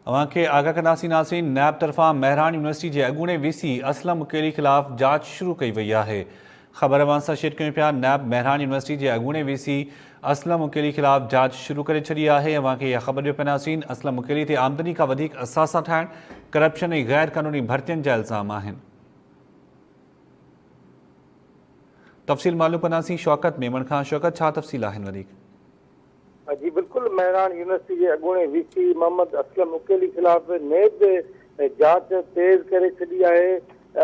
اوهان کي آگاهه ڪنداسين ناظرين نيب طرفان مهراڻ يونيورسٽي جي اڳوڻي وي سي اسلم مڪيري خلاف جاچ شروع ڪئي وئي آهي خبر اوهان سان شيئر ڪيون پيا نيب مهراڻ يونيورسٽي جي اڳوڻي وي سي اسلم مڪيري خلاف جاچ شروع ڪري ڇڏي آهي اوهان کي اها خبر ڏيو پيا ناظرين اسلم مڪيري تي آمدني کان وڌيڪ اثاثا ٺاهڻ ڪرپشن ۽ غير قانوني ڀرتين جا الزام آهن تفصيل معلوم ڪنداسين شوڪت ميمڻ کان شوڪت ڇا تفصيل آهن وڌيڪ جي بلڪل مهراڻ يونيورسٽي جي اڳوڻي وي سي محمد اسلم عقيلي خلاف نيب جاچ تيز ڪري ڇڏي آهي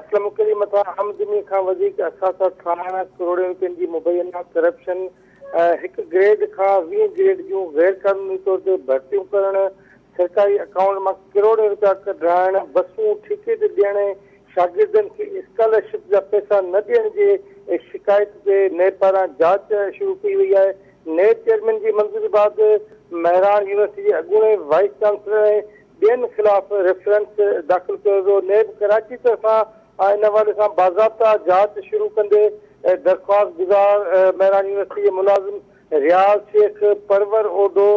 اسلم عقيلي مٿان آمدني کان وڌيڪ اثاثا ٺاهڻ ڪروڙين روپين جي مبينا ڪرپشن هڪ گريڊ کان ويهه گريڊ جون غير قانوني طور تي ڀرتيون ڪرڻ سرڪاري اڪائونٽ مان ڪروڙين روپيا ڪڍرائڻ بسون ٺيڪي تي ڏيڻ شاگردن کي اسڪالرشپ جا پئسا نه ڏيڻ جي شڪايت تي نيب پاران جاچ شروع ڪئي وئي آهي نيب چيئرمين جي منظوري بعد مهراڻ يونيورسٽي جي اڳوڻي وائيس چانسلر ۽ ٻين خلاف ريفرنس داخل ڪيو ويو، نيب ڪراچي طرفان ان حوالي سان باضابطا جاچ شروع ڪندي درخواست گذار مهراڻ يونيورسٽي جي ملازم رياض شيخ، پرور اوڍو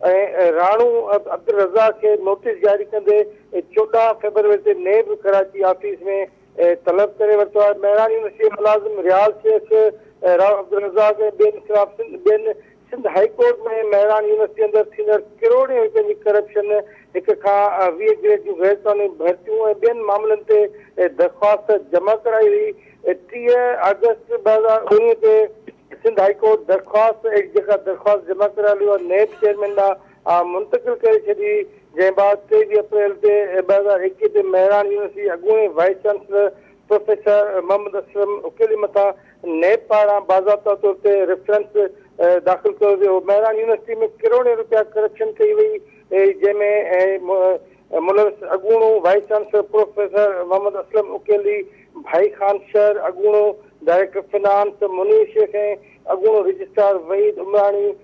۽ راڻو عبدالرضا کي نوٽيس جاري ڪندي چوڏهن فيبروري تي نيب ڪراچي آفيس ۾ طلب ڪري ورتو آهي. مهراڻ يونيورسٽيء جي ملازم رياض شيخ، راء عبدالرزاق ۽ ٻين خلاف ٻين سنڌ هائي ڪورٽ ۾ مهراڻ يونيورسٽيء اندر ٿيندڙ ڪروڙين رپين جي ڪرپشن، هڪ کان ويهه گريڊ جون غيرقانوني ڀرتيون ۽ ٻين معاملن تي درخواست جمع ڪرائي هئي. ٽيهه آگسٽ ٻه هزار اڻويهه تي سنڌ هائي ڪورٽ درخواست ايڪٽ جيڪا درخواست جمع ڪرايل هئي اها نيب چيئرمين ڏانهن آء منتقل ڪري ڇڏي، جنهن بعد ٽيويهه اپريل تي ٻه هزار ايڪيهه تي مهراڻ يونيورسٽي اڳوڻي vice chancellor professor Muhammad Aslam Aqeeli مٿان نيب پاران باضابطا طور تي ريفرنس داخل ڪيو ويو، مهراڻ يونيورسٽي ۾ ڪروڙين رپيا ڪرپشن ڪئي وئي، جنهن ۾ ملوث اڳوڻو vice chancellor professor Muhammad Aslam Aqeeli, Bhai Khan شر، اڳوڻو ڊائريڪٽر فنانس منير شيخ ۽ اڳوڻو رجسٽرار وحيد عمراڻي